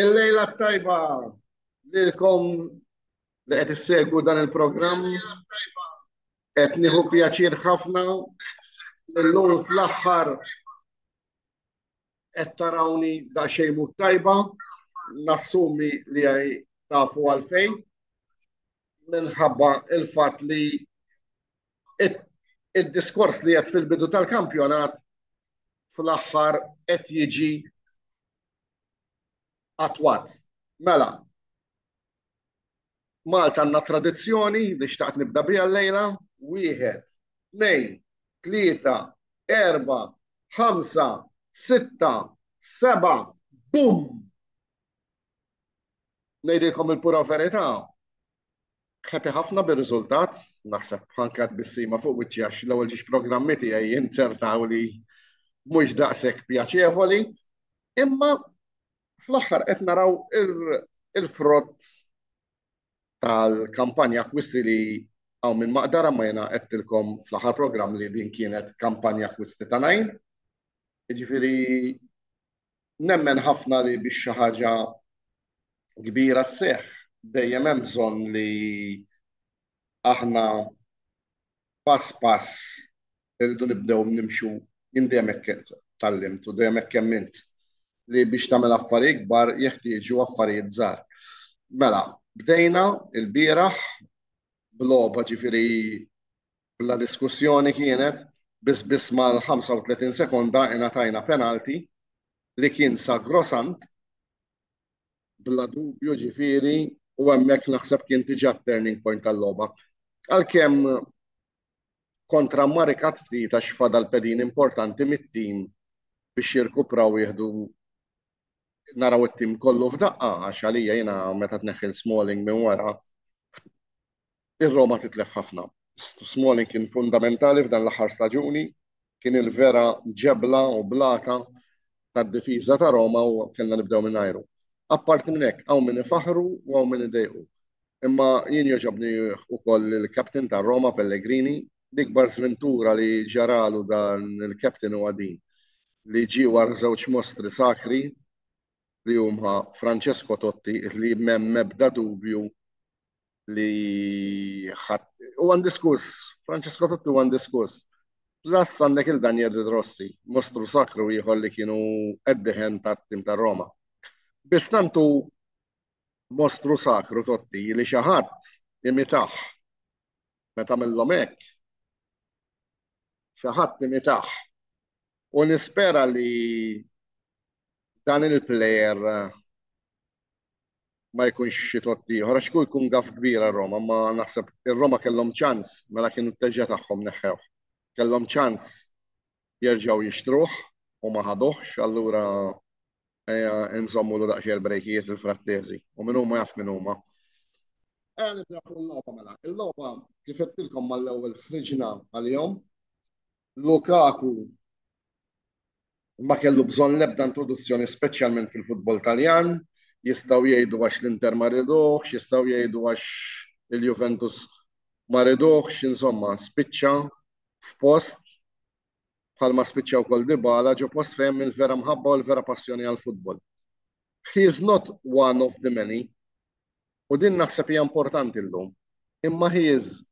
Il-lejla t-tajba lilkom li qed issegwu dan il-programm. Qed nieħu pjaċir ħafna illum fl-aħħar qed tarawni daqsxejn mhux tajba, nassumi li tafu għalfejn minħabba il-fatt li id-diskors li għedt fil-bidu tal-kampjonat fl-aħħar qed jiġi attwat. Mela, Malta għandna tradizzjoni li xtaqt nibda biha llejla, wieħed, tnejn, tlieta, erba, ħamsa, sitta, seba, bum! Ngħidilkom il-pura verità, happy ħafna bir-riżultat, naħseb anke għat-tbissima fuq wiċċi għax l-ewwel ġiex programmi tiegħi inzertaw li mhux daqshekk pjaċevoli, imma fl-aħħar qed naraw il-frott tal-kampanja akkwisti li hawn minn Maqdara ma jiena għedtilkom fl-aħħar programm li din kienet kampanja akkwisti ta' Naim. Jiġifieri Nemmen ħafna li biex xi ħaġa kbira sseħħ dejjem hemm bżonn li aħna pass pass irridu nibdew nimxu jien dejjem hekk tgħallimt u dejjem hekk emmint li biex tagħmel affarijiet kbar jeħtieġu affarijiet żgħar. Mela, bdejna il-bieraħ b'logħba ġifieri Bla diskussjoni kienet, biss biss mal-35 sekonda ingħatajna penalty li kien sagrosant bla dubju ġifieri u hemmhekk naħseb kien diġà t-turning point tal-logħba. Għalkemm kontra mmarikat ftit għax fadal pedin importanti mit-tim biex jirkupraw jieħdu naraw it-tim kollu f'daqqa għax għalija jiena meta tneħħi Smalling minn wara Ir-Roma titlef ħafna. Smalling kien fundamentali f'dan l-aħħar staġuni, kien il-vera ġebla u blata tad-difiża ta' Roma u kellna nibdew mingħajru. Apparti minn hekk, hawn min ifaħħru u hawn min idejqu. Imma jien jogħġobni ukoll il-captain tar-Roma, Pellegrini. L-ikbar żventura li ġaralu dan il-captain huwa din, li ġie wara żewġ mostri sakri li huma Francesco Totti li m'hemm ebda dubju li u għan diskus, Francesco Totti u għan diskus. Plus għandek il-Daniel Di Rossi, mostru sakru jħol li kienu eddiħen ta' tim ta' Roma. Bis tantu mostru sakru Totti li xaħat imitaħ meta mill-lom hekk. Xaħat imitaħ. U nispera li dan il-player ma jkunx xi tott ieħor għax kieku jkun gaff kbir għal Roma, imma naħseb ir-Roma kellhom ċans mela kienu t-teġġa' tagħhom neħħewh. Kellhom ċans jerġgħu jixtruh u ma ħaduhx, allura ejja nżommulu daqsxejn il-brejkijiet lil Frattesi. U min huma jaf min huma. Ejja nibdew fuq il-logħba mela. Il-logħba kif għedtilkom mal-ewwel ħriġna għalihom Lukaku ma kellu bżonn l-ebda introduzzjoni speċjalment fil-futbol Taljan, jistgħu jgħidu għax l-Inter ma rieduhx, jistgħu jgħidu għax il-Juventus ma rieduhx, insomma spiċċa f'post bħalma spiċċa wkoll Dybala ġo post fejn hemm il-vera mħabba u l-vera passjoni għall-futbol. He is not one of the many u din naħseb hija importanti llum. Imma he is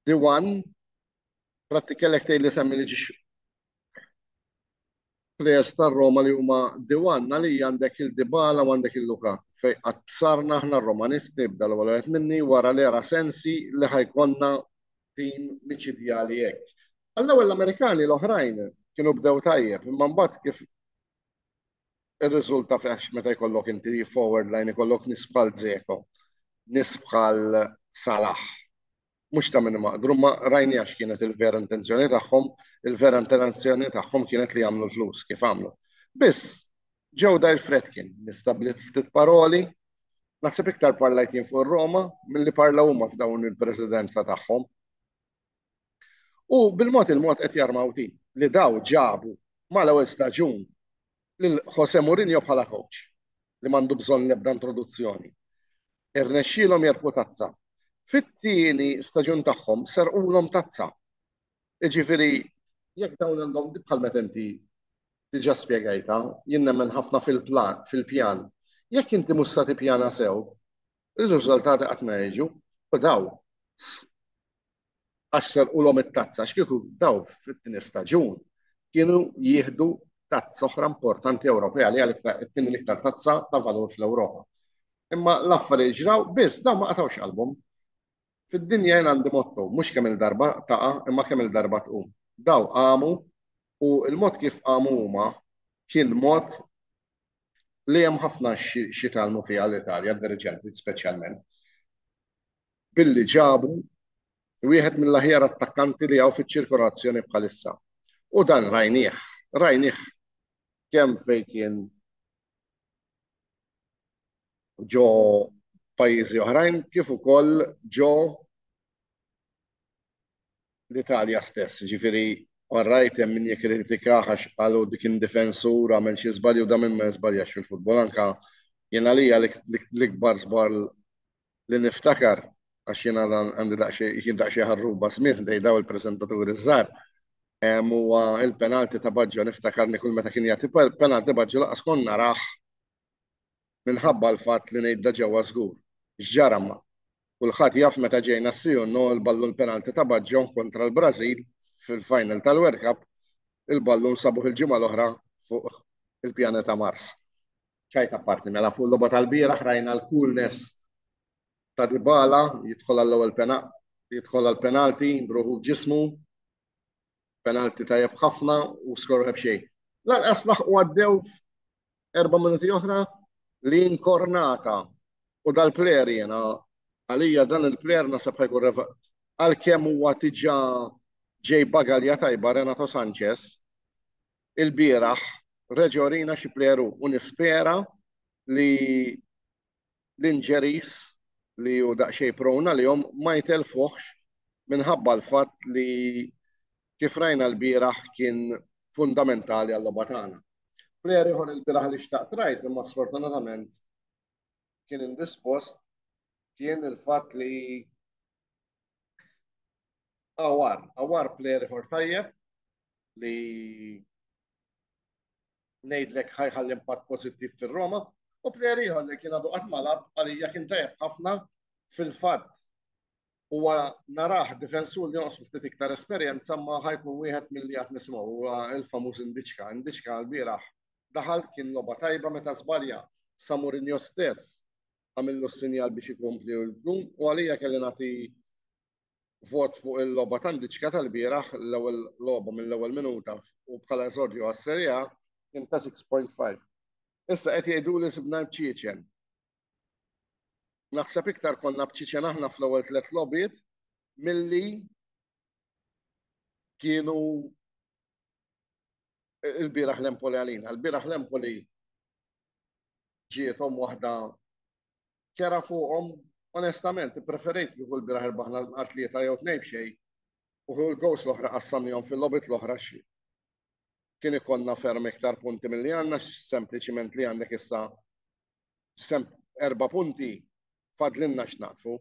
the one Pratti kellek tgħid li semmi li ġiex players tar-Roma li huma diwan li għandek il-Dibala u għandek il-Luka. Fej qatt bsarna aħna r-Romanisti bda l-ewwel qed minni wara l-era sensi li ħajkonna tim miċidjali hekk. Għall-ewwel l-Amerikani l-oħrajn kienu bdew tajjeb, imma mbagħad kif Irriżulta f'għax meta jkollok inti forward line ikollok nies bħal Dzeko, nies bħal Salah. Mhux ta' min maqdru, ma rajnieha x'kienet il-vera intenzjoni tagħhom, il-vera intenzjoni tagħhom kienet li jagħmlu l-flus kif għamlu. Biss, ġew Dire Fredkin, nistablit ftit paroli, naħseb iktar parlajt jien fuq ir-Roma milli parlaw huma f'dawn il-presidenza tagħhom. U bil-mod il-mod qed jarmaw din li daw ġabu mal-ewwel staġun lil Jose Mourinho bħala kowċ li m'għandu bżonn l-ebda introduzzjoni. Irnexxielhom jerbħu tazza. Fit-tieni staġun tagħhom serqulhom tazza. Jiġifieri jekk dawn għandhom bħal meta inti diġà spjegajtha, jien nemmen ħafna fil-pjan. Jekk inti mhux se tippjana sew, Ir-riżultati qatt ma jiġu u daw għax serqulhom it-tazza għax kieku daw fit-tieni staġun kienu jieħdu tazza oħra importanti Ewropea li hija t-tieni l-iktar tazza ta' valur fl-Ewropa. Imma l-affarijiet ġraw biss dawn ma qatgħux qalbhom. Fid-dinja jien għandi motto, mhux kemm-il darba taqa' imma kemm-il darba tqum. Daw qamu u l-mod kif qamu huma kien mod li hemm ħafna x'jitgħallmu fiha l-Italja, d-diriġenti speċjalment, billi ġabu wieħed mill-aħjar attakkanti li hawn fiċ-ċirkolazzjoni bħalissa. U dan rajnieh, rajnieh kemm fejn kien ġo pajjiżi oħrajn kif ukoll ġo l-Italja stess, jiġifieri all right hemm min jikkritikah għax qal hu kien difensur għamel xi żball jew da min ma jiżbaljax fil-futbol anke jien għalija l-ikbar żball li niftakar għax jiena għandi daqsxejn jien daqsxejn ħarruba smigħ ħdej dawn il-preżentaturi ż-żgħar hemm huwa l-penalti ta' Baġġo niftakarni kull meta kien jagħti penalti Baġġo laqas kont narah minħabba l-fatt li ngħidha ġewwa żgur. X'ġara ma. Kulħadd jaf meta ġejna s-Siuno l-ballun l-penalti ta' Baggio kontra l-Brażil fil-final tal-World Cup il-ballun sabuh il-ġimgħa l-oħra fuq il-pjaneta Mars. Ċajt apparti mela fuq l-logħba tal-bieraħ rajna l-coolness ta' Dybala jidħol għall-ewwel jidħol għall-penalti b'ruħu b'ġismu. Penalti tajjeb ħafna u skoru ħeb xejn. Lanqas laħqu għaddew erba' minuti oħra li inkornata u dal-player jena għalija dan il-player nasab ħajkun reva għal-kem huwa tiġa ġej bagalja tajba Renato Sanchez il-bieraħ reġorina xi pleru u nispera li l-injuries li hu daqsxejn prone għalihom ma jtellfuhx minħabba l-fatt li kif rajna lbieraħ kien fundamentali għal-logħba tagħna. Plejer ieħor ilbieraħ li xtaqt ngħid imma sfortunatament kien indispost kien il-fatt li Awar, Awar plejer ieħor tajjeb li Ngħidlek ħa jħalli impatt pożittiv fir-Roma. U plejer ieħor li kien għadu qatt ma lagħab għalija kien tajjeb ħafna fil-fatt huwa narah difensur li jonqsu ftit iktar esperjenza ma ħa jkun wieħed milli għad nisimgħu huwa l-famuż Indiċka. Indiċka lbieraħ daħal kien logħba tajba meta żbalja sa Mourinho stess għamillu s-sinjal biex ikompli u jkun u għalija kelli nagħti vot fuq il-logħba tantiċka tal-bieraħ, l-ewwel logħba mill-ewwel minuta u bħala eżordju għas-Serie A kien ta' 6.5. Issa qed jgħiduli sibna l-bċiċen. Naħseb iktar konna bċiċen aħna fl-ewwel tliet logħbiet milli kienu il-bieraħ l-Empoli għalina. Il-bieraħ l-Empoli ġietom waħda kera fuqhom onestament ippreferejt kieku l-bieraħ irbaħna l-bqar tlieta jew tnejn b'xejn u kieku l-goals l-oħra qassamnihom fil-logħbiet l-oħra għax kien ikollna ferm iktar punti milli għandna sempliċiment li għandek issa erba' punti fadlinna x'naqtfu.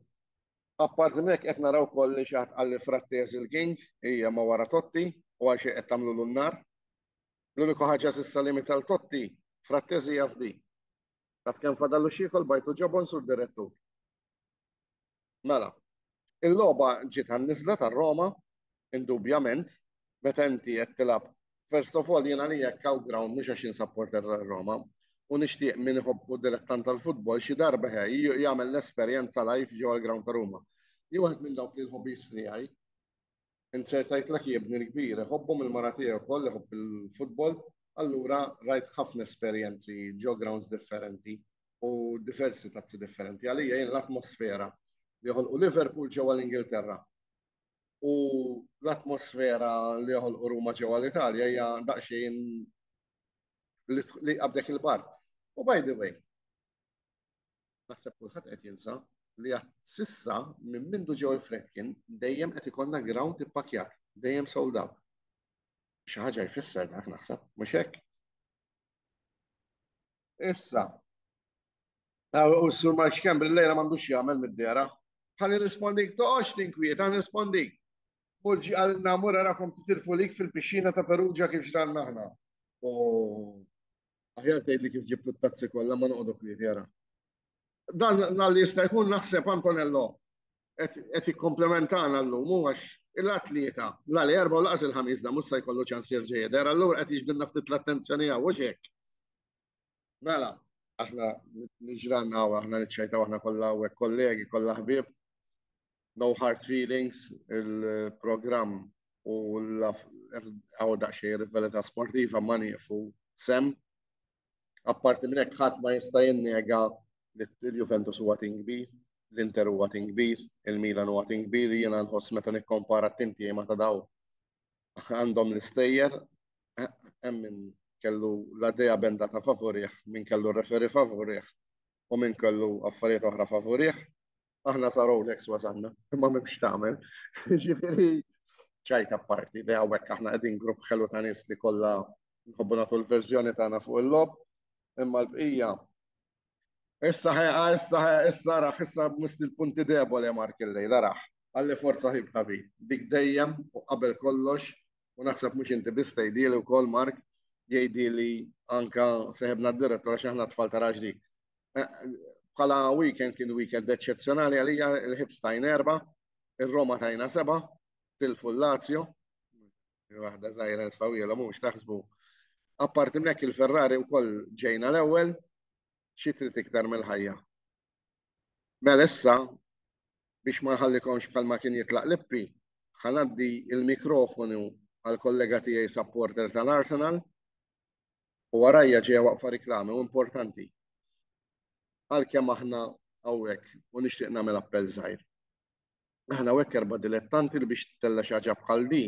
Appart minn hekk qed naraw ukoll li xi ħadd qal li Frattez il-king hija ma wara Totti u għal xejn qed tagħmlulu n-nar. L-uniku ħaġa s'issa li meta l-Totti Frattez hija f'di. Taf kemm fadallu x'jiekol bajtu ġobon Sur Direttur. Mela, il-logħba ġiet għan-niżla tar-Roma, indubjament, meta inti qed tilgħab First of all, jien għalija hekk hawn ground mhux għax jien supporter tar-Roma u nixtieq min iħobb u dilettant tal-futbol xi darba he jagħmel l-esperjenza live ġewwa l-ground ta' Ruma. Jien waħed minn dawk li l-hobbies tiegħi Inser tgħidlek hi ibni l-kbir, iħobbhom il-mara tiegħi wkoll iħobb il-futbol, allura rajt ħafna esperjenzi ġo grounds differenti u diversi tazzi differenti. Għalija jien l-atmosfera li joħolqu Liverpool ġewwa l-Ingilterra u l-atmosfera li joħolqu Ruma ġewwa l-Italja hija daqsxejn li qabdek il-bar. U by the way, Naħseb kulħadd qed jinsa li għad sissa minn mindu ġew il-Fredkin dejjem qed ikollna ground ippakjat, dejjem sold out. Xi ħaġa jfisser dak naħseb, mhux hekk? Issa. U s-sur Mark Xkembri l-lejla m'għandux jagħmel mid-dera. Ħalli nrispondik, toqgħodx tinkwiet, ħalli nrispondik. Mulġi għal namura rakom titilfu lik fil-pixxina ta' Perugia kif ġranna aħna. U Aħjar tgħidli kif ġibt it-tazzi kollha ma noqogħdu kwieti ara. Dan nal jista' jkun naħseb Antonello qed jikkomplementana llum hu għax il-atleta la li erba' u laqas il-ħamis da mhux se jkollu ċans jerġa' jidher allura qed jiġbidna ftit l-attenzjoni hawn hux hekk? Mela, aħna niġranna u aħna niċċajtaw aħna kollha hawnhekk kollegi, kollha ħbieb. No Hard Feelings, il-programm u għaw daqxej rivelita sportiva ma nieqfu sem. Apparti minn hekk ħadd ma jista' jinnega li l-Juventus huwa tim kbir, l-Inter huwa tim kbir, il-Milan huwa tim kbir, jiena nħoss meta nikkompara t-tim tiegħi ma ta' daw għandhom l-istejjer hemm min kellu la dea benda ta' favorih, min kellu referi favorih u min kellu affarijiet oħra favorih. aħna sa Rolex wasanna, imma m'hemmx tagħmel. Ġifieri ċajta parti, li hawnhekk aħna qegħdin grupp ħelu ta' nies li kollha nħobbu nagħtu l-verżjoni tagħna fuq il-lob, imma l-bqija. Issa ħeqa, issa ħeqa, issa raħ, issa mist il-punti debole mark il-lejla raħ. Għalli forza ħib ħabi, dik dejjem u qabel kollox, u naħseb mhux inti biss tgħidili wkoll Mark, jgħidi li anka seħebna d-direttora x'aħna tfal ta' raġdi. Bħala weekend kien weekend eċċezzjonali għalija, il-Hibs tajn erba', ir-Roma tajna seba', tilfu l-Lazio, waħda żgħira tfawjela mhux taħsbu. Apparti minn hekk il-Ferrari wkoll ġejna l-ewwel, xi trid iktar mill-ħajja. Mela issa biex ma nħallikomx bħalma kien jitlaq lippi, ħa ngħaddi l-mikrofonu għall-kollega tiegħi supporter tal-Arsenal, u warajja ġejja waqfa riklami u importanti għalkemm aħna hawnhekk u nixtieq nagħmel appell żgħir. Aħna hawnhekk erba' dilettanti li biex tella' xi ħaġa bħal di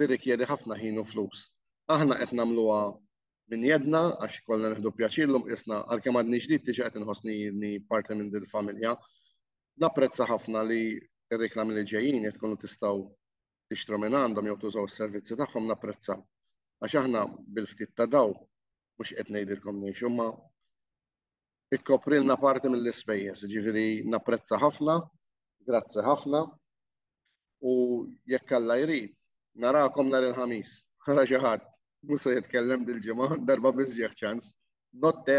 tirrikjedi ħafna ħin u flus. Aħna qed nagħmluha minn jedna għax ikollna nieħdu pjaċir llum qisna għalkemm għadni ġdid diġà qed inħossni inni parti minn din il-familja. Napprezza ħafna li r-riklami li ġejjin qed tkunu tistgħu tixtru minn għandhom jew tużaw is-servizzi tagħhom napprezzaw. Għax aħna bil-ftit ta' dawl, mhux qed ngħidilkom ngħixu, imma tkoprilna parti mill-ispejjeż, jiġifieri napprezza ħafna, grazzi ħafna u jekk Alla jrid, narakom nhar il-Ħamis. Ara xi ħadd, mhux se jitkellem dil-ġimgħa, darba biss ġieh ċans. Notte!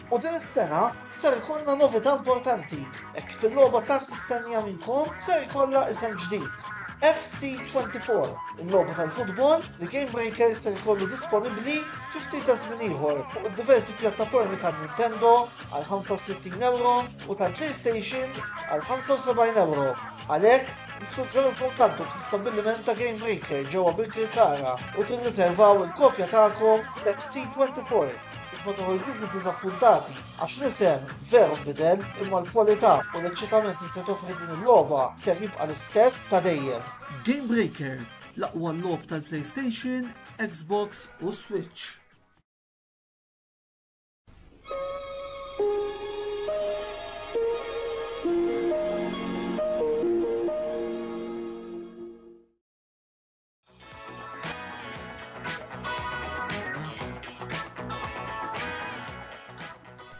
U din is-sena ser ikollna novità importanti hekk kif il-logħba tant mistennija minnkom ser ikollha isem ġdid. FC24, il-logħba tal-futbol li Game Breaker ser ikollu disponibbli fi ftit ta' żmien ieħor fuq id-diversi pjattaformi ta' Nintendo għal 65 euro u ta' PlayStation għal 75 euro. Għalhekk, nissuġġerulkom tgħaddu fl-istabbiliment ta' Game Breaker ġewwa bil-Kirkara u tirriservaw il-kopja tagħkom FC24. biex ma toħorġux mid-diżappuntati, għax l-isem veru nbidel imma l-kwalità u l-eċċitament li se toffri din il-logħba ser jibqa' l-istess ta' dejjem. Game Breaker, l-aqwa logħob tal-PlayStation, Xbox u Switch.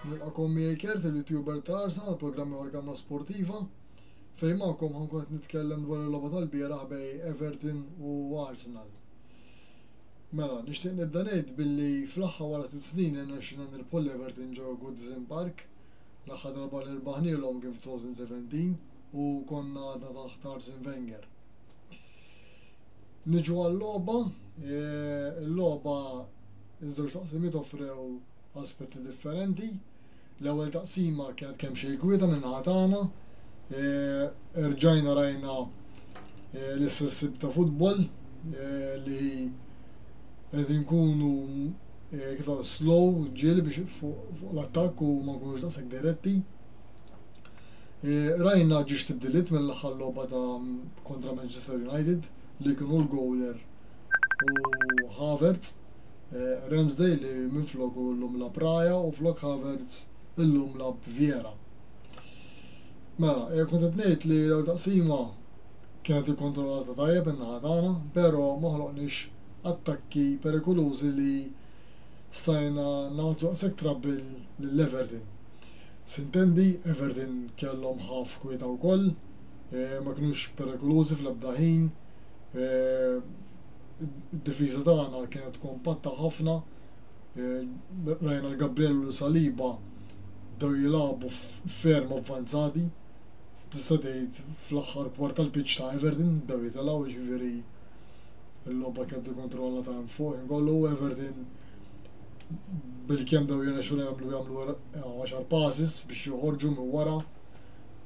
Nilqakom miegħi Kert il-YouTuber ta' Arsa għal programm ieħor kamra sportiva. Fejn magħkom ħankun qed nitkellem dwar il-logħba tal-bieraħ bej Everton u Arsenal. Mela, nixtieq nibda ngħid billi fl-aħħar wara tit snin irnexxina nirbħu l-Everton ġew Goodison Park. L-aħħar darba li rbaħnielhom kien f'2017 u konna għadna taħt Arsene Wenger. Niġu għal-logħba, il-logħba iż-żewġ taqsimiet offrew aspetti differenti. L-ewwel taqsima kienet kemm xejn kwieta minn naħa tagħna. Erġajna rajna l-istess tip ta' futbol li qed inkunu kif slow ġiel biex fuq l-attakk u ma nkunux daqshekk diretti. Rajna ġiex tibdiliet mill-aħħar logħba ta' kontra Manchester United li kien hu l-gowler u Havertz, Ramsdale li minfloku llum lagħab Raya u flok Havertz illum lagħab Vieira. Mela, kont qed ngħid li l-ewwel taqsima kienet ikkontrollata tajjeb min-naħa tagħna, però ma ħloqniex attakki perikolużi li stajna nagħtu daqshekk trabbill lil Everton. S'intendi, Everton kellhom ħaf kwieta wkoll, ma kinux perikolużi fl-ebda ħin. Id-difiża tagħna kienet kompatta ħafna. Rajna li Gabriel u Saliba bdew jilagħbu ferm avvanzati, tista' tgħid fl-aħħar kwart tal-pitch ta' Everton bdew jitilgħu, jiġifieri l-logħba kienet ikkontrollata minn fuq ħin kollu. Everton bilkemm bdew jirnexxu jagħmlu. għaxar passes biex joħorġu minn wara,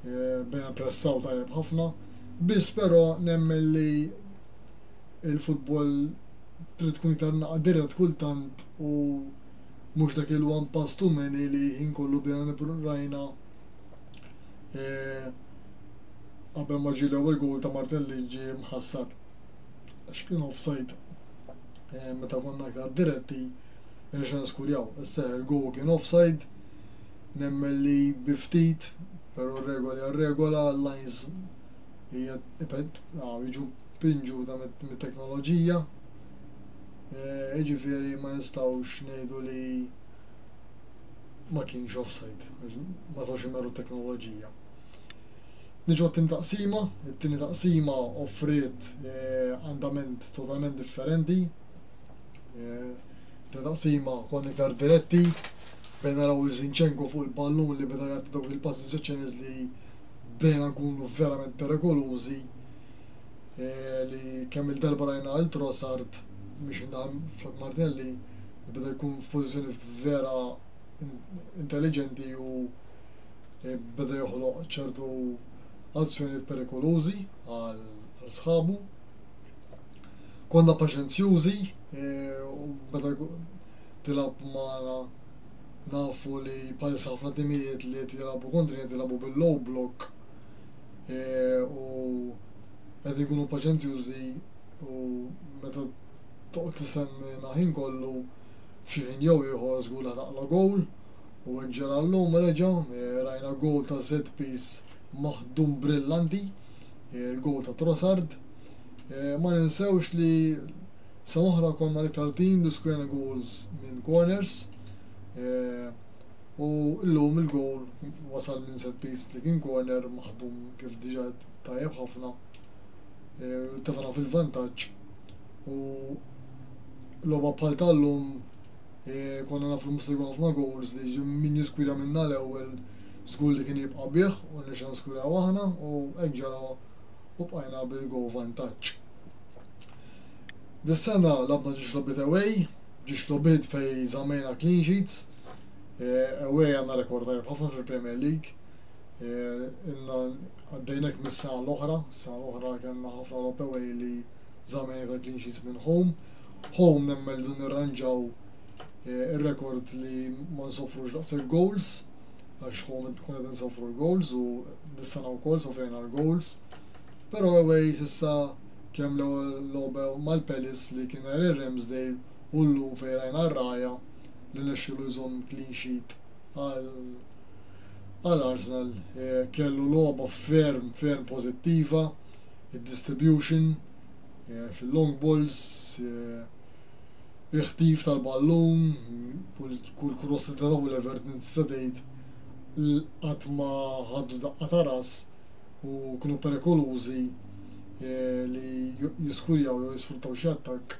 bdejna npressaw tajjeb ħafna, biss però nemmen li l-futbol trid tkun iktar naqa' dirett kultant u mhux dak il-one pass too many li ħin kollu bdejna nippru, rajna qabel ma ġie l-ewwel goal ta' Martelli ġie mħassar għax kien offside meta konna iktar diretti, irnexxilna niskurjaw. Issa il-goal kien offside, nemmen li bi ftit, pero r-regola hija r-regola, l-lines jiġu pinġuta mit-teknoloġija, jiġifieri ma nistgħux ngħidu li ma kienx offside għax ma setgħux imerru t-teknoloġija. Niġu għat-tieni taqsima, it-tieni taqsima offriet andament totalment differenti, eh, ta' taqsima kon iktar diretti bejn naraw li Zinchenko fuq il-pallun li beda jgħat dawk il-passi seċċeniz li bdejna nkunu verament perikolużi eh, li kemm il-darba rajna il trosart biex indaħam flok Martinelli li beda jkun f'pożizzjoni vera intelligenti u eh, beda joħloq ċertu azzjonijiet perikolużi għal sħabu. Konna paċenzjużi u meta tilgħab magħna nafu li bħalissa ħafna timijiet li qed jilgħabu kontrina qed jilgħabu bil-low block u qed ikunu paċenzjużi u meta toqgħod tistennina ħin kollu f'xi ħin jew ieħor żgur li ħataqla' gowl u hekk ġara llum reġa' rajna gowl ta' set piece maħdum brillanti, il-gowl ta' Trossard. Ma ninsewx li sena oħra konna l-iktar tim li skurjna goals minn corners u llum il-goal wasal minn set piece li kien corner maħdum kif diġà tajjeb ħafna u tefgħna fil-vantaġġ u logħba bħal tal-lum konna nafu li mhux se jkun ħafna goals li min jiskura minna l-ewwel żgur li kien jibqa' bih u rnexxina niskurjaw aħna u hekk ġara u bqajna bil-goal vantaġġ. Dis-sena lagħbna ġiex logħbiet away, ġiex logħbiet fejn żammejna clean sheets, away għandna rekord tajjeb ħafna fil-Premier League, ilna għaddejn hekk mis-sena l-oħra, s-sena l-oħra kellna ħafna logħob away li żammejna iktar clean sheets minn home. Home nemmen li dun nirranġaw ir-rekord li ma nsofrux daqshekk goals. għax hu minn tkun qed insofru l-goals u dis-sena wkoll sofrejna l-goals. Però away s'issa kemm l-ewwel logħba mal-Palace li kien għer ir-Ramsdale u llum fejn rajna r-Raya li nexxielu jżomm clean sheet għal Arsenal kellu logħba ferm ferm pożittiva, id-distribution fil-long balls, il-ħtif tal-ballun, kull cross li ta' taw l-Everton tista' tgħid li qatt ma ħadu daqqa ta' ras u kienu perikolużi li jiskurjaw jew jisfruttaw xi attakk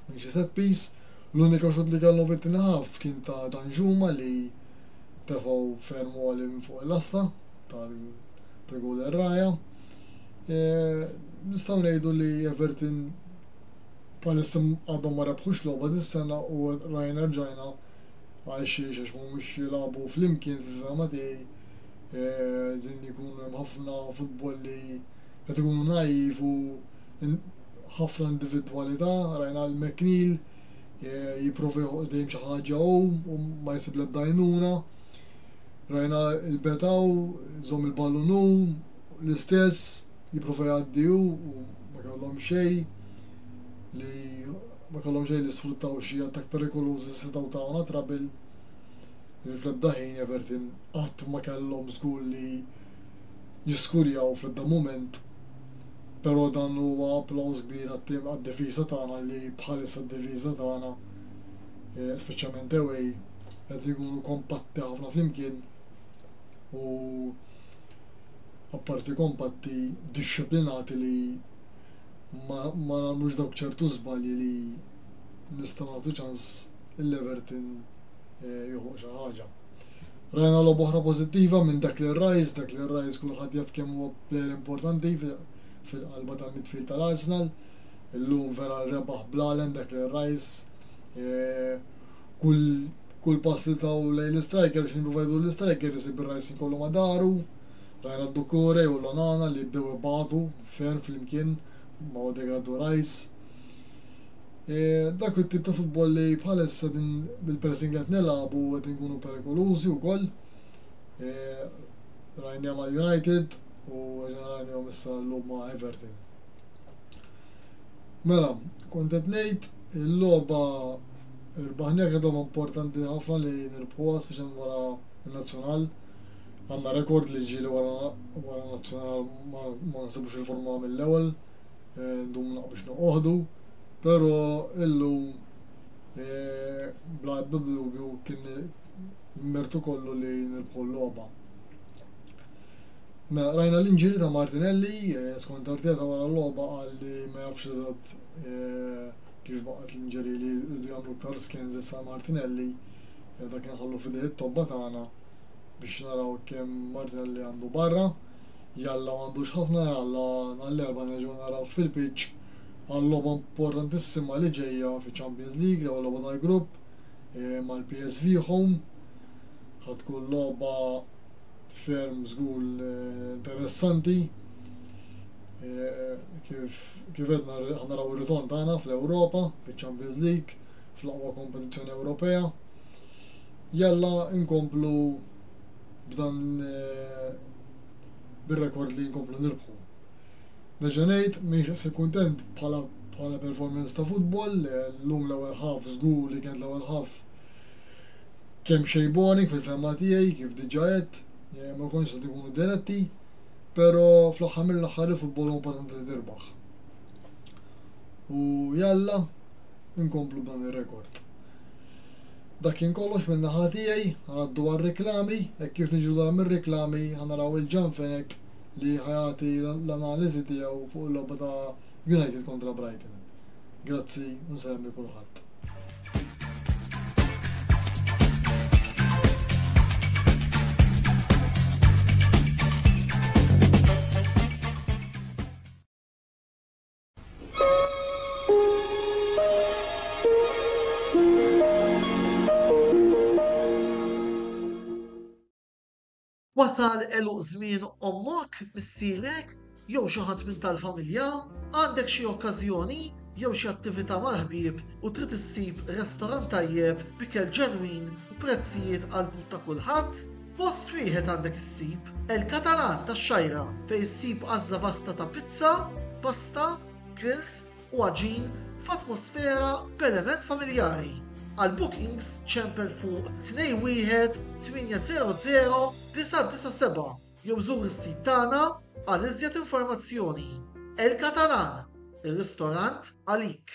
minn xi set piece. L-unika xutt li kellhom fit-tieni ħaff kien ta' Danjuma li tefgħu ferm għoli minn fuq il-lasta tal-goal erraja. Nistgħu ngħidu li Everton bħalissa għadhom ma rebħux logħba dis-sena u rajna rġajna għal xiex għax mhumiex jilagħbu flimkien fil-fehma tiegħi din ikun hemm ħafna futbol li qed ikunu naiv u ħafna individwalità rajna lil McNeil jipprova joħloq dejjem xi ħaġa hu u ma jsib l-ebda għajnuna rajna l-betaw żomm il-ballun hu l-istess jipprova jgħaddi hu u ma kellhom xejn li ma kellhom xejn li sfruttaw xi attakk perikoluż li setgħu tawna trabil. Li fl-ebda ħin Everton qatt ma kellhom żgur li jiskurjaw fl-ebda mument. Però dan huwa applaws kbir għat-tim għad-difiża tagħna li bħalissa d-difiża tagħna eh, speċjalment away qed ikunu kompatti ħafna flimkien u apparti kompatti, dixxiplinati li ma jagħmlux dawk ċertu żbalji li nistgħu nagħtu ċans li Everton joħloq xi ħaġa. Rajna logħba oħra pożittiva minn Declan Rice, Declan Rice kulħadd jaf kemm huwa plejer importanti fil-qalba tal-midfield tal-Arsenal. Illum vera rebaħ bl-għalen Declan Rice. Eh, kull pass li taw lejn l-striker, xin ruvajdu l-striker, jisib il-Rice kollu madaru. Rajna Doucouré u l-Onana li bdew ibagħdu ferm flimkien ma' Odegaard u Rice. Dak it-tip ta' futbol li bħalissa din bil-pressing li qed nilagħbu qed inkunu perikolużi wkoll. Rajniha mal-United u rajnihom issa llum ma' Everton. Mela, kont qed ngħid il-logħba rbaħniha kienet logħba importanti ħafna li nirbħuha speċjalment wara n-nazzjonal. Għandna rekord li ġieli wara wara nazzjonal ma ma nsibux il-forma mill-ewwel, eh, ndum naqbix noqogħdu, però illum eh, bla ebda dubju kien mertu kollu li nirbħu l-logħba. Mela, rajna l-inġiri ta' Martinelli, eh, skont Arteta wara l-logħba qal li ma jafx eżatt eh, kif baqgħet l-inġiri li rridu jagħmlu aktar skens issa Martinelli, eh, dak kien ħallu fidejh it-tobba tagħna, biex naraw kemm Martinelli għandu barra. Jalla m'għandux ħafna, jalla nhar l-Erbgħa nerġgħu narawh fil-pitch għal logħba importantissima li ġejja fiċ-Champions League, l-ewwel logħba tal-grupp eh, mal-PSV home. Ħa tkun logħba ferm żgur eh, interessanti. Eh, kif kif edna ħanaraw ir-ritorn tagħna fl-Ewropa, fiċ-Champions League, fl-aqwa kompetizzjoni Ewropea. Jalla inkomplu b'dan bir-rekord li nkomplu nirbħu. Nerġa' ngħid, m'iniex daqshekk kuntent bħala bħala performance ta' futbol, llum l-ewwel half żgur li kienet l-ewwel half kemm xejn boring fil-fehma tiegħi kif diġà għedt, ma konniex qed inkunu diretti, però fl-aħħar mill-aħħar il-futbol huwa importanti li tirbaħ. U jalla inkomplu b'dan ir-rekord. Dak kien kollox minn naħa tiegħi, ħa ngħaddu għar-riklami, hekk kif niġu lura mir-riklami ħa naraw il-Jan Fenech li ħa jagħti l-analiżi tiegħu fuq il-logħba ta' United kontra Brighton. Grazzi u nsellem lil kulħadd. Wasal eluq żmien ommok, missierek, jew xi ħadd minn tal-familja, għandek xi okkażjoni jew xi attività mal-ħbieb u trid issib restorant tajjeb b'ikel ġenwin u prezzijiet għall-but ta' kulħadd? Fost riħet għandek issib El Catalan tax-Xajra fejn issib għażla vasta ta' pizza, pasta, grills u għaġin f'atmosfera b'element familjari. Għal bookings ċempel fuq 21 800 997 jew żur is-sit tagħna għal iżjed informazzjoni. El Catalan, ir-ristorant għalik.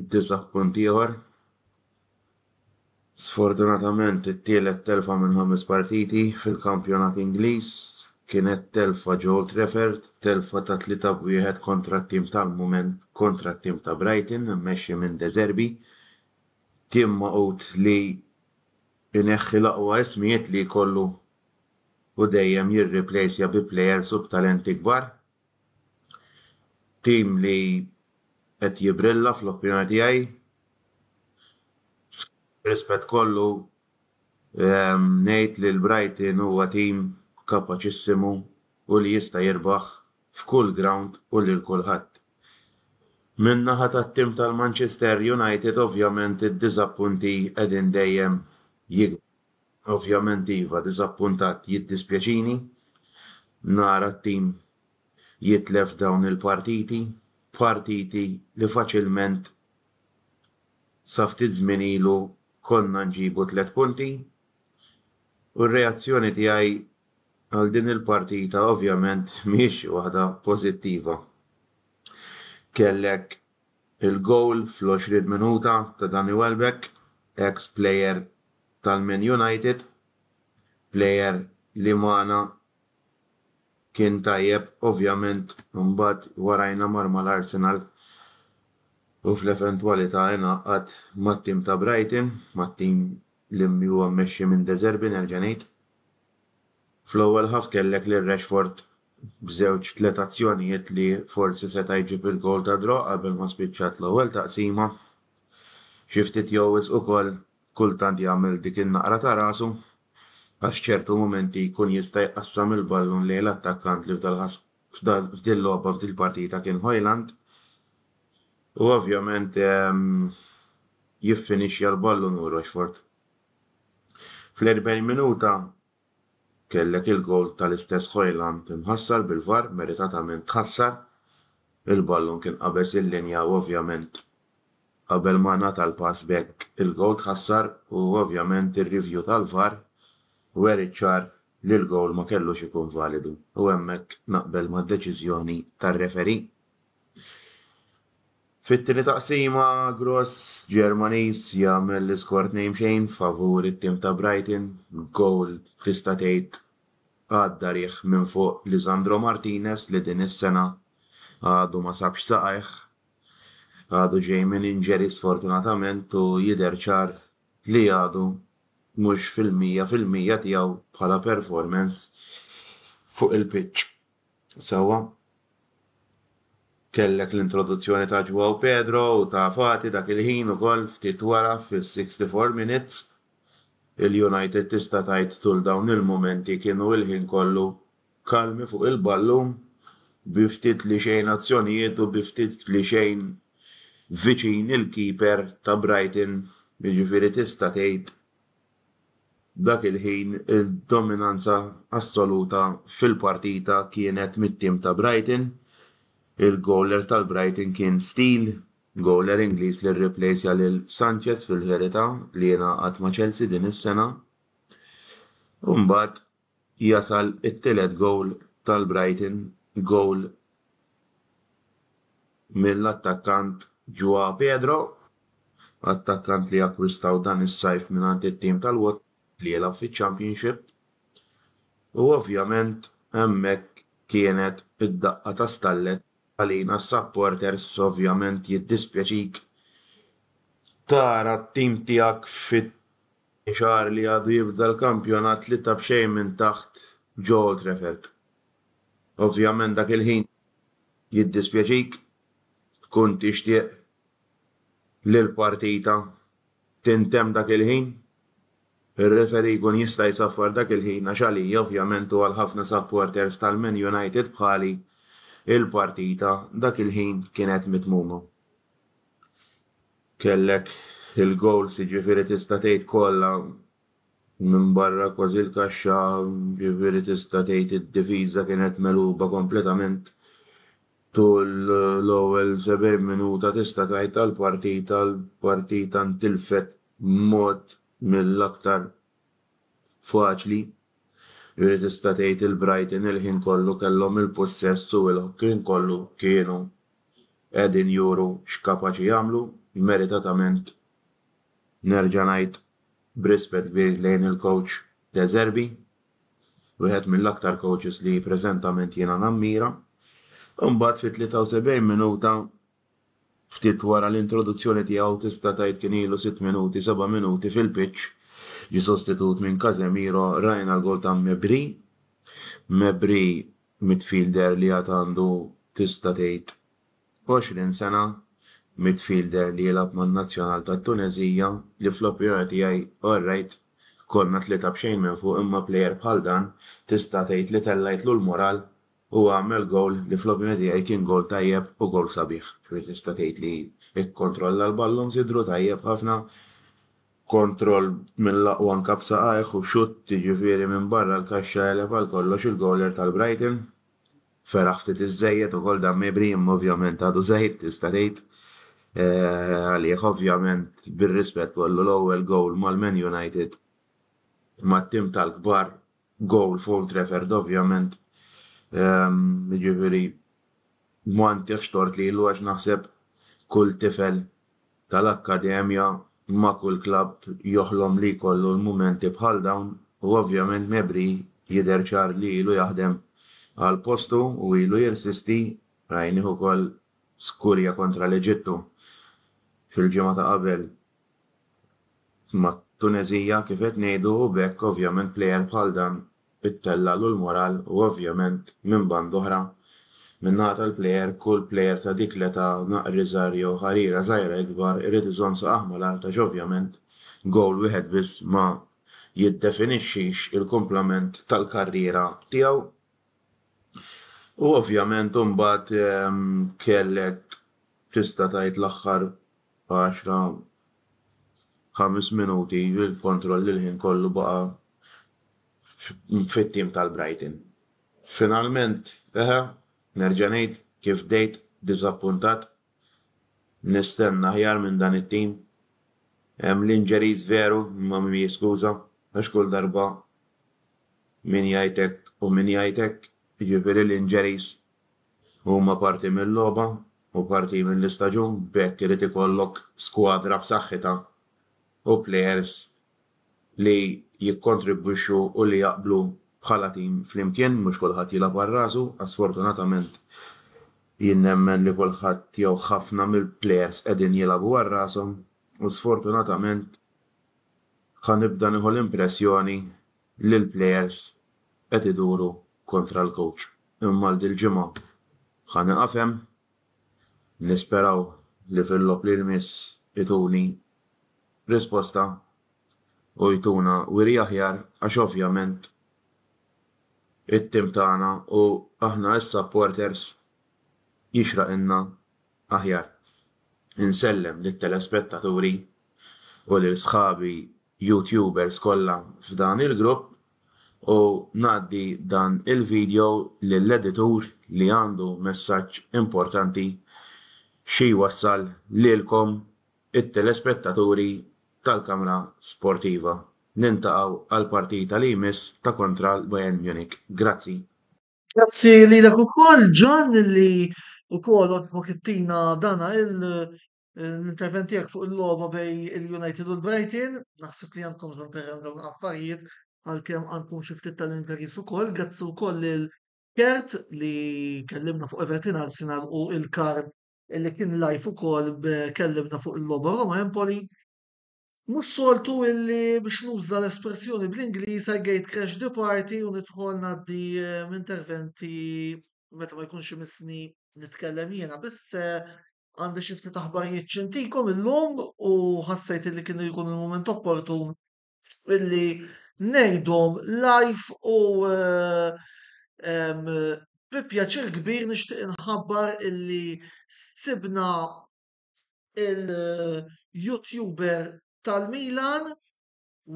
Id-disa' punt ieħor. Sfortunatament it-tielet telfa minn ħames partiti fil-kampjonat Ingliż kienet telfa ġo Old Trafford, telfa ta' tlieta b' wieħed kontra t-tim tal-mument kontra t-tim ta' Brighton immexxi minn De Zerbi, tim magħqud li jneħħi l-aqwa ismijiet li jkollu u dejjem jirriplejsja bi plejers u b'talenti kbar. Tim li qed jibrilla fl-opinjoni tiegħi. B'rispett kollu ngħid li l-Brighton huwa tim kapaċissimu u li jista' jirbaħ f'kull grawnd u lil kulħadd. Min-naħa tat-tim tal-Manchester United ovvjament id-diżappunti qegħdin dejjem jikbru. Ovvjament iva diżappuntat jiddispjaċini nara t-tim jitlef dawn il-partiti, partiti li faċilment sa ftit żmien ilu konna nġibu tliet punti u r-reazzjoni tiegħi għal din il-partita ovvjament mhijiex waħda pożittiva. Kellek Il-gowl fl-20 minuta ta' Danny Welbeck, eks plejer tal-Man United, plejer li magħna kien tajjeb, ovvjament imbagħad warajna mar mal-Arsenal u fl-eventwalità ingħaqad mat-tim ta' Brighton, mat-tim li huwa mmexxi minn De Zerbi nerġa' ngħid. Fl-ewwel half kellek lil Rashford b'żewġ, tliet azzjonijiet li forsi seta' jġib il-gowl ta' draw qabel ma spiċċat l-ewwel taqsima. Xi ftit jew wisq ukoll kultant jagħmel dik in-naqra ta' rasu għax ċertu mumenti jkun jista' jqassam il-ballun lejn l-attakkant li f'dil logħba f'dil partita kien Hojland u ovvjament jiffinixja l-ballun hu Rochford. Fl-40 minuta Kellek il-goal tal-istess Hojlund imħassar bil-VAR, meritatament tħassar. Il-ballun kien qabeż il-linja u ovvjament qabel ma ngħata l-pass b'hekk il-goal tħassar u ovvjament ir-review tal-VAR weriet ċar li l-goal ma kellux ikun validu u hemmhekk naqbel mad-deċiżjoni tar-referee. Fit-tieni taqsima, Gross, Ġermaniż, jagħmel l-iskor 2 b'xejn favur it-tim ta' Brighton, gowl tista' tgħid għadda riħ minn fuq Lisandro Martinez li din is-sena għadu ma sabx saqajh. Għadu ġej minn injury sfortunatament u jidher ċar li għadu mhux fil-mija fil-mija tiegħu bħala performance fuq il-pitch. Sewwa. Kellek l-introduzzjoni ta' Joao Pedro u ta' Fati dak il-ħin ukoll ftit wara fis-64 minutes. Il-United tista' tgħid tul dawn il-mumenti kienu il-ħin kollu kalmi fuq il-ballun bi ftit li xejn azzjonijiet u bi ftit li xejn viċin il-keeper ta' Brighton, jiġifieri tista' tgħid Dak il-ħin id-dominanza assoluta fil-partita kienet mit-tim ta' Brighton. Il-gowler tal-Brighton kien Steele, gowler Ingliż li rriplejsja lil Sanchez fil-verità li jingħaqad ma' Chelsea din is-sena. Imbagħad jasal it-tielet gowl tal-Brighton, gowl mill-attakkant Joao Pedro, attakkant li akkwistaw dan is-sajf mingħand it-tim tal-Watford li jilgħab fiċ-Championship u ovvjament hemmhekk kienet id-daqqa ta' stallet għalina s-supporters ovvjament jiddispjaċik tara t-tim tiegħek Xagħar li għadu jibda l-kampjonat tlieta b'xejn minn taħt ġo Old Trafford. Ovvjament dak il-ħin jiddispjaċik, tkun tixtieq li l-partita tintemm dak il-ħin, ir-referee jkun jista' jsaffar dak il-ħin għax għalija ovvjament u għal ħafna supporters tal-Man United bħali, il-partita dak il-ħin kienet mitmuma. kellek il-gowls jiġifieri tista' tgħid kollha minbarra kważi l-kaxxa jiġifieri tista' tgħid id-difiża kienet megħluba kompletament tul l-ewwel 70 minuta tista' tgħid tal-partita l-partita ntilfet b'mod mill-aktar faċli jiġifieri tista' tgħid il-Brighton il-ħin kollu kellhom il-pussess u l-ħin kollu kienu qegħdin juru x'kapaċi jagħmlu, meritatament nerġa' ngħid b'rispett kbir lejn il-coach De Zerbi, wieħed mill-aktar coaches li preżentament jiena nammira. Imbagħad fit-73 minuta ftit wara l-introduzzjoni tiegħu tista' tgħid kien ilu sitt minuti, seba' minuti fil-pitch, ġie sostitut minn Casemiro, rajna l-goal ta' Mebri. Mebri Midfielder li għad għandu tista' tgħid 20 sena, midfielder li jilgħab man-nazzjonal tat-Tuneżija li fl-opinjoni tiegħi orrajt konna tlieta b'xejn minn fuq imma plejer bħal dan tista' tgħid li tellgħitlu l-mural u għamel gowl li fl-opinjoni tiegħi kien gowl tajjeb u gowl sabiħ. Tista' tgħid li kkontrolla l-ballons jidhru tajjeb ħafna. kontroll mill-aqwa anke b'saqajh u xutt jiġifieri minn barra l-kaxxa għeleb għal kollox il-gowler tal-Brighton. Feraħ ftit iżżejjed ukoll dan Mejbri imma ovvjament għadu żgħir tista' tgħid għalih ovvjament bir-rispett kollu l-ewwel gowl mal-Man United mat-tim tal-kbar Goal f'Old Trafford ovvjament, jiġifieri ma ntihx tort lilu għax naħseb kull tifel tal-akkademja ma' kull klabb joħlom li jkollu l-mumenti bħal dawn u ovvjament Mebri jidher ċar li ilu jaħdem għal postu u ilu jirsisti, rajnieh ukoll skurja kontra l-Eġittu fil-ġimgħa ta' qabel. mat-Tuneżija kif qed ngħidu u b'hekk ovvjament plejer bħal dan ittellagħlu l-moral u ovvjament minn band'oħra min-naħa tal-plejer kull plejer ta' dik l-età naqr iżgħar jew ħarira żgħira ikbar irid iżomm saqajh mal-art għax ovvjament gowl wieħed biss ma jiddefinixxix il-kumplament tal-karriera tiegħu u ovvjament imbagħad kellek tista' tgħid l-aħħar għaxra, ħames minuti, il-kontrolli l-ħin kollu baqa' fit-tim tal-Brighton. Finalment, eħe, nerġa' ngħid, kif bdejt, diżappuntat. Nistenna aħjar minn dan it-tim. Hemm l-injuries veru, imma min jiskuża, għax kull darba min jgħid hekk u min jgħid hekk, jiġifieri l-injuries Huma parti mil-logħba u parti mill-istaġun b'hekk irid ikollok skwadra b'saħħitha u plejers li jikkontribwixxu u li jaqblu bħala tim flimkien, mhux kulħadd jilgħab għal rasu għax sfortunatament jien nemmen li kulħadd jew ħafna mill-plejers qegħdin jilgħabu għal rashom u sfortunatament ħa nibda nieħu l-impressjoni li l-plejers qed iduru kontra l-kowċ. Imma għal dil-ġimgħa ħa nieqaf hemm. Nisperaw li fil-logħob li jmiss ituni risposta u jtuna wiri aħjar għax ovvjament it-tim tagħna u aħna s-supporters jixraqilna aħjar. Insellem lit-telespettaturi u lil sħabi YouTubers kollha f'dan il-grupp u ngħaddi dan il-video lill-editur li għandu messaġġ importanti xi jwassal lilkom it-telespettaturi tal-kamra sportiva. Nintaqgħu għall-partita li jmiss ta' kontra l-Bayern Munich. Grazzi. Grazzi lilek ukoll John li wkoll għoġbok ittina dana il L-intervent tiegħek fuq il-logħba bej il-United u l-Brighton, naħseb li għandkom bżonn perran dawn l-affarijiet għalkemm għandkom xi ftit tal-injuries ukoll, grazzi wkoll lil Kert li kellimna fuq Everton Arsenal u il-Karl li kien live ukoll b- kellimna fuq il-logħba Roma Empoli. Mhux soltu illi biex nuża l-espressjoni bl-Ingliż I gate crash the party u nidħol ngħaddi interventi meta ma jkunx imissni nitkellem jiena biss għandi xi ftit aħbarijiet xi ntikom illum u ħassejt illi kien ikun il-mument opportun illi ngħidhom live u bi pjaċir kbir nixtieq inħabbar illi sibna il-YouTuber tal-Milan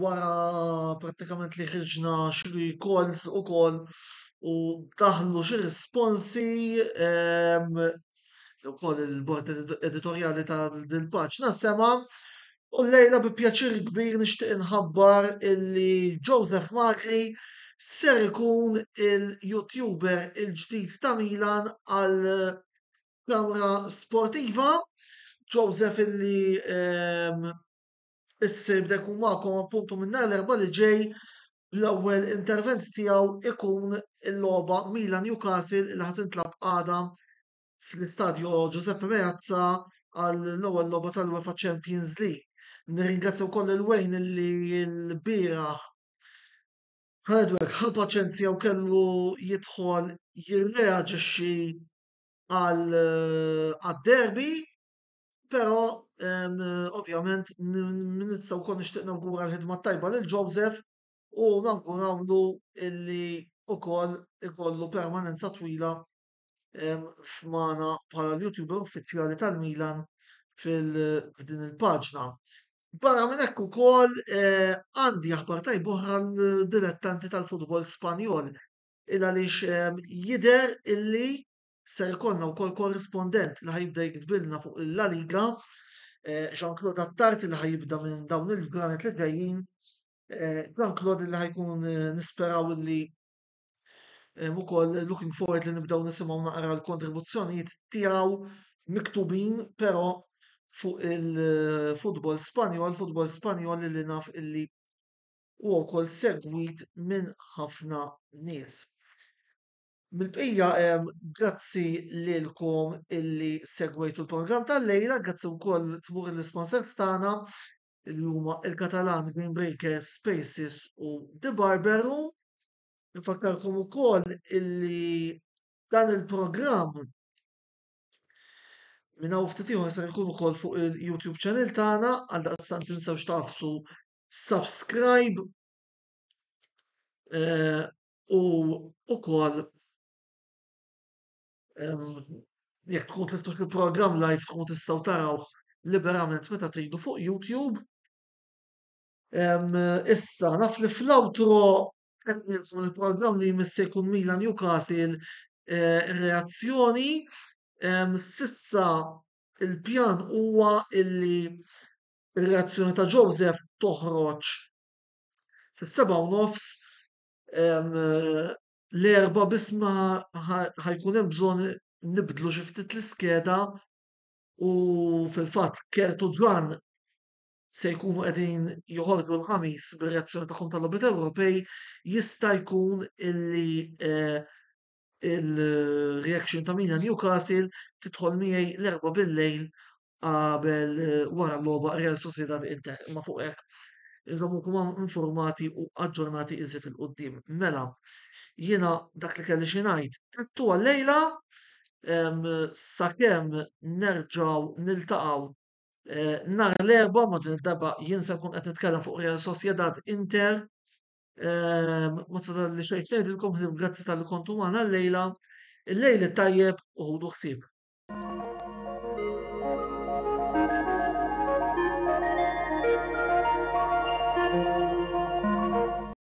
wara prattikament li ħriġna xi calls ukoll u daħlu xi responsi li wkoll il-bord editorjali ta' din il-paġna sema'. U llejla bi pjaċir kbir nixtieq inħabbar illi Joseph Magri ser ikun il-YouTuber il-ġdid ta' Milan għal Kamra sportiva, Joseph illi ehm, issa jibda jkun magħkom appuntu minn nhar l-erba' li ġej l-ewwel intervent tiegħu ikun il-logħba Milan Newcastle li ħadd intlab għada fl-istadju Giuseppe Meazza għall-ewwel logħba tal-UEFA Champions League. Nirringrazzja wkoll il-wejn li l-bieraħ Hardware ħa paċenzja u kellu jidħol jirreaġixxi għal derby Pero, ovvjament, nista' wkoll nixtieq nawgura l-ħidma tajba lil Joseph u nawgurawlu illi ukoll ikollu permanenza twila f'mana bħala l-YouTuber uffiċjali tal-Milan f'din il-paġna. Barra minn hekk ukoll għandi aħbar tajba oħra l-dilettanti tal-futbol Spanjol il għaliex jidher illi ser ikollna wkoll korrispondent li ħajibda jiktbilna fuq il-La Liga, eh, Jean-Claude Attarti li ħajibda minn dawn il-ġranet li ġejjin, eh, Jean-Claude li ħajkun eh, nisperaw illi ukoll looking forward li nibdew nisimgħu naqra l-kontribuzzjonijiet tiegħu miktubin però fuq il-futbol Spanjol, futbol Spanjol li naf illi huwa wkoll segwit minn ħafna nies. Mill-bqija grazzi lilkom illi segwejtu l-programm tal-lejla, grazzi wkoll tmur l-sponsors tagħna li huma il-Katalan Green Breakers, Spaces u The Barber Room. Nfakkarkom ukoll illi dan il-programm minn hawn ftit ieħor se jkun ukoll fuq il-YouTube channel tagħna għal daqstant tinsewx tafsu subscribe eh, u ukoll jekk tkun tliftu il-programm live tkun tistgħu tarawh liberament meta tridu fuq YouTube. Issa, naf li fl-outro il-programm li jmiss se jkun Mila Newcastle eh, reazzjoni. Sissa il-pjan huwa illi Ir-reazzjoni ta' Joseph toħroġ fis-sebgħa u nofs l-Erbgħa biss ma ħa jkun hemm bżonn nibdlu xi ftit l-iskeda u fil-fatt Kurt u Ġwann se jkunu qegħdin joħorġu l-Ħamis bir-reazzjoni tagħhom tal-Logħbiet Ewropej jista' jkun illi il-reaction ta' Mina Newcastle tidħol miegħi l-erba bil-lejl qabel eh, wara l-logħba Real Sociedad Inter. Ma fuq hekk inżommukom hawn informati u aġġornati iżjed il qudiem Mela, jiena dak li kelli xi ngħid. Trittu għal-lejla em, sakemm nerġgħu niltaqgħu eh, nhar l-erba' ma din id-darba jien se nkun qed nitkellem fuq Real Sociedad Inter Ma tfadal li xejn ngħidilkom ħlief grazzi tal-li kontu magħna llejla. Il-lejl it-tajjeb u ħudu ħsieb.